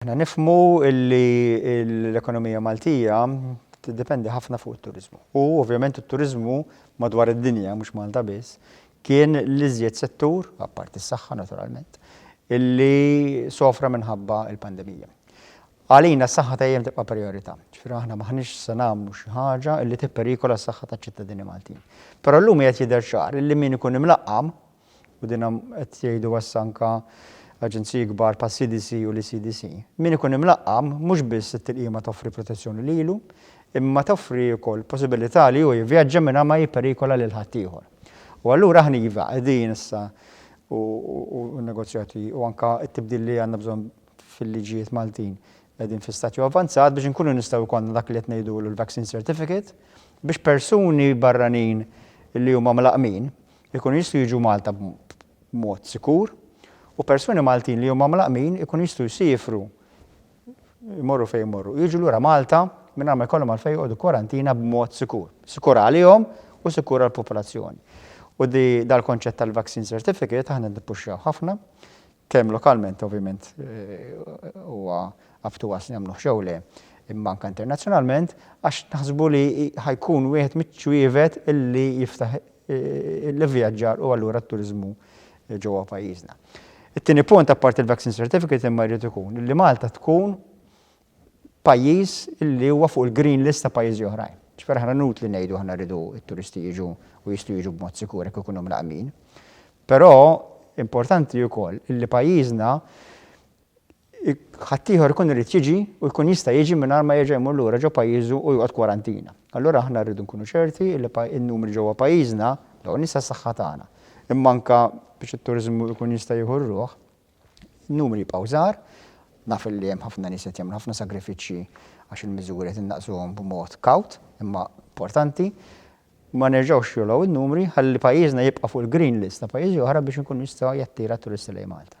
Aħna nifhmu li l-ekonomija Maltija tiddependi ħafna fuq it-turiżmu. U ovvjament it-turiżmu madwar id-dinja, mhux Malta biss, kien l-iżjed settur, apparti s-saħħa naturalment, illi sofra minħabba l-pandemija. Għalina s-saħħa dejjem tibqa' prijorità. Ġifieri aħna m'aħniex se nagħmlu xi ħaġa illi tipperikola s-saħħa taċ-ċittadini Maltin. Però llum qiegħed jidher ċar illi min ikun imlaqqam u din qed jgħiduha issa anke aġenziji kbar bħas-CDC u l-ECDC, min ikun imlaqqam mhux biss it-tilqima toffri protezzjoni lilu, imma toffri wkoll il-possibilità li hu jivvjaġġa mingħajr ma jipperikola lil ħaddieħor. U allura aħna iva, qegħdin issa u n-negozjati u anke t-tibdil li għandna bżonn fil-liġijiet Maltin qegħdin fi stadju avvanzat biex inkunu nistgħu jkollna dak li qed ngħidulu l-vaccine certificate biex persuni barranin li huma mlaqqmin Ikunu jistgħu jiġu Malta b'mod sikur u persuni Maltin li huma mlaqqmin ikunu jistgħu jsiefru jmorru fejn jmorru u jiġu lura Malta mingħajr ma jkollhom għalfejn joqogħdu kwarantina b'mod sikur. Sikur għalihom u sikur għall-popolazzjoni. U dal-konċett tal-vaccine certificate aħna nippuxxaw ħafna Kemm lokalment ovvjament huwa up to us nagħmluhx jew le, imma anke internazzjonalment, għax naħsbu li ħa jkun wieħed miċ-ċwievet li jiftaħ l-ivvjaġġar u allura t-turiżmu ġewwa pajjiżna. It-tieni punt, apparti l-vaccine certificate imma jrid ikun li Malta tkun pajjiż li huwa fuq il-green list ta' pajjiżi oħrajn. Ġifieri aħna inutli ngħidu aħna rridu t-turisti jiġu u jistgħu jiġu b'mod sikur jekk ikunu mlaqqmin. Però importanti wkoll li pajjiżna ħaddieħor ikun irid jiġi u jkun jista' jiġi mingħajr ma jerġa' jmur lura ġo pajjiżu u joqgħod kwarantina. Allura aħna rridu nkunu ċerti li n-numri ġewwa pajjiżna, l-ewwel nett għas-saħħa tagħna, imma anke biex it-turiżmu jkun jista' jieħu r-ruħ, Numri jibqgħu żgħar, naf li hemm ħafna nies li qed jagħmlu ħafna sagrifiċċji għax il-miżuri qed innaqsuhom b'mod kawt imma importanti. Ma nerġgħux jogħlow in-numri ħalli pajjiżna jibqa' fuq il-green list ta' pajjiżi oħra biex inkun jista' jattira t-turisti lejn Malta.